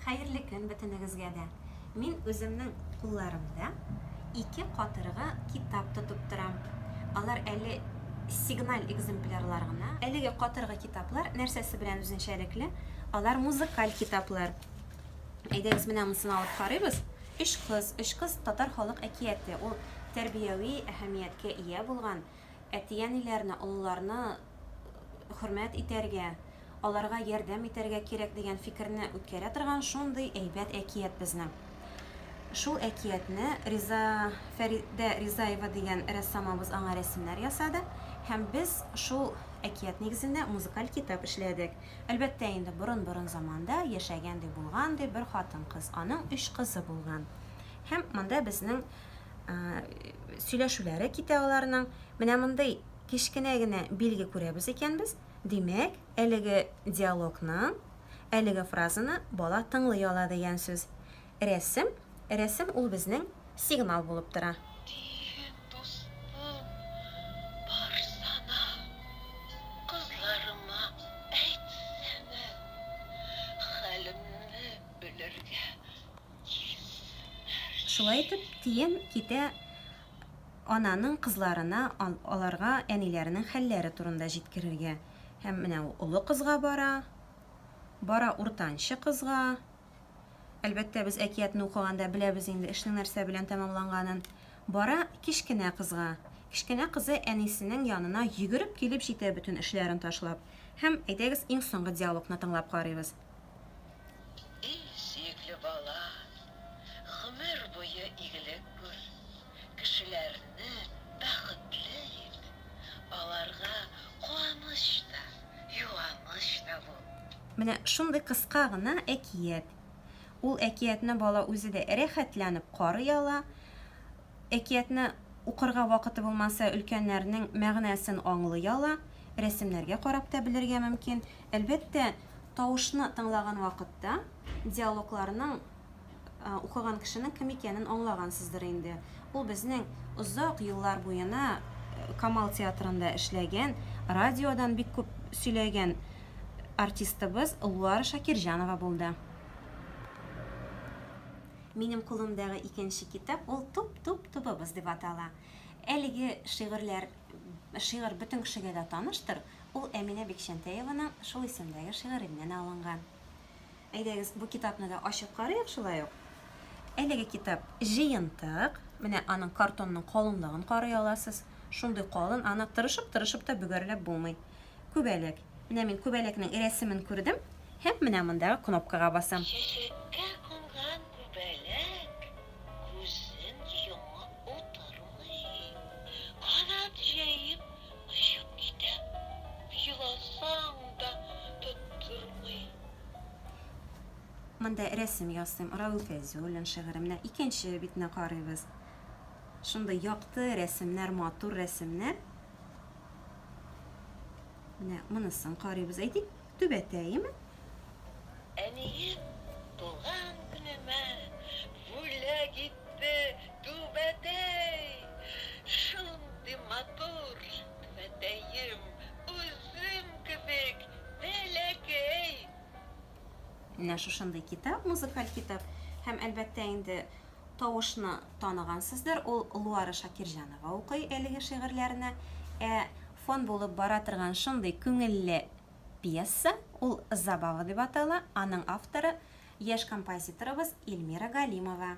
Хәерле көн бөтенегезгә дә! Мин үземнең кулларымда ике катыргы китап тотып торам. Алар әле сигналь экземплярлар гына. Әлеге катыргы китаплар нәрсәсе белән үзенчәлекле? Алар музыкаль китаплар. Әйдәгез, менә монысын алып карыйбыз. Өч кыз, өч кыз татар халык әкияте. Ул тәрбияви әһәмияткә ия булган Әти-әниләрне, олыларны хөрмәт итәргә, аларга ярдәм итәргә кирәк дигән фикерне үткәрә торган шундый әйбәт әкият безнең. Шул әкиятне Риза Фәридә Ризаева дигән рәссамыбыз аңа рәсемнәр ясады һәм без шул әкият нигезендә музыкаль китап эшләдек. Әлбәттә инде, борын-борын заманда яшәгән ди, булган ди, бер хатын-кыз, аның өч кызы булган. Һәм монда безнең сөйләшүләре китә аларның. Менә мондый кечкенә генә билге күрәбез икәнбез. Димәк, әлеге диалогның әлеге фразаны бала тыңлый ала дигән сүз. Рәсем, рәсем ул безнең сигнал булып тора. Диген дустым, барсана, кызларыма әйтсәнә, хәлемне белергә Шулай итеп, тиен китә ананың кызларына аларга әниләренең хәлләре турында җиткерергә. Һәм менә ул олы кызга бара, бара уртанчы кызга. Әлбәттә, без әкиятне укыганда беләбез инде эшнең нәрсә белән тәмамланганын. Бара кечкенә кызга. Кечкенә кызы әнисенең янына йөгереп килеп җитә бөтен эшләрен ташлап. Һәм, әйдәгез, иң соңгы диалогны тыңлап карыйбыз. И сөекле бала, гомер буе игелек күр, кешеләрне бәхетле ит, аларга куаныч та, юаныч та бул. Менә шундый кыска гына әкият. Ул әкиятне бала үзе дә рәхәтләнеп карый ала. Әкиятне укырга вакыты булмаса, өлкәннәрнең мәгънәсен аңлый ала, рәсемнәргә карап та белергә мөмкин. Әлбәттә, тавышны тыңлаган вакытта диалогларның укыган кешенең кем икәнен аңлагансыздыр инде. Ул безнең озак еллар буена Камал театрында эшләгән, радиодан бик күп сөйләгән артистыбыз Луара Шакирҗанова булды. Минем кулымдагы икенче китап ул Туп-туп тубыбыз дип атала. Әлеге шигырьләр шигырь бөтен кешегә дә таныштыр, ул Әминә Бикчәнтәеваның шул исемдәге шигыреннән алынган. Әйдәгез, бу китапны да ачып карыйк шулай ук. Әлеге китап җыентык. Менә аның картонның калынлыгын карый аласыз. Шундый калын, аны тырышып-тырышып та бөгәрләп булмый. Күбәләк. Менә мин күбәләкнең рәсемен күрдем һәм менә мондагы кнопкага басам. Чәчәккә кунган күбәләк күзен йомып утырмый, канат җәеп очып китә, еласаң да тоттырмый. Монда рәсем ясыйм, Равил Фәйзуллин шигыре. Менә икенче битне карыйбыз. Шундый якты рәсемнәр, матур рәсемнәр. Менә монысын карыйбыз. Әйтик, түбәтәеме? Әнием туган көнемә бүләк итте түбәтәй. Шундый матур түбәтәем, үзем кебек бәләкәй. Менә шушындый китап, музыкаль китап. Һәм, әлбәттә, инде тавышны таныгансыздыр, ул Луара Шакирҗанова укый әлеге шигырьләрне. Ә фон булып бара торган шундый күңелле пьеса, ул Забава дип атала, аның авторы, яшь композиторыбыз Эльмира Галимова.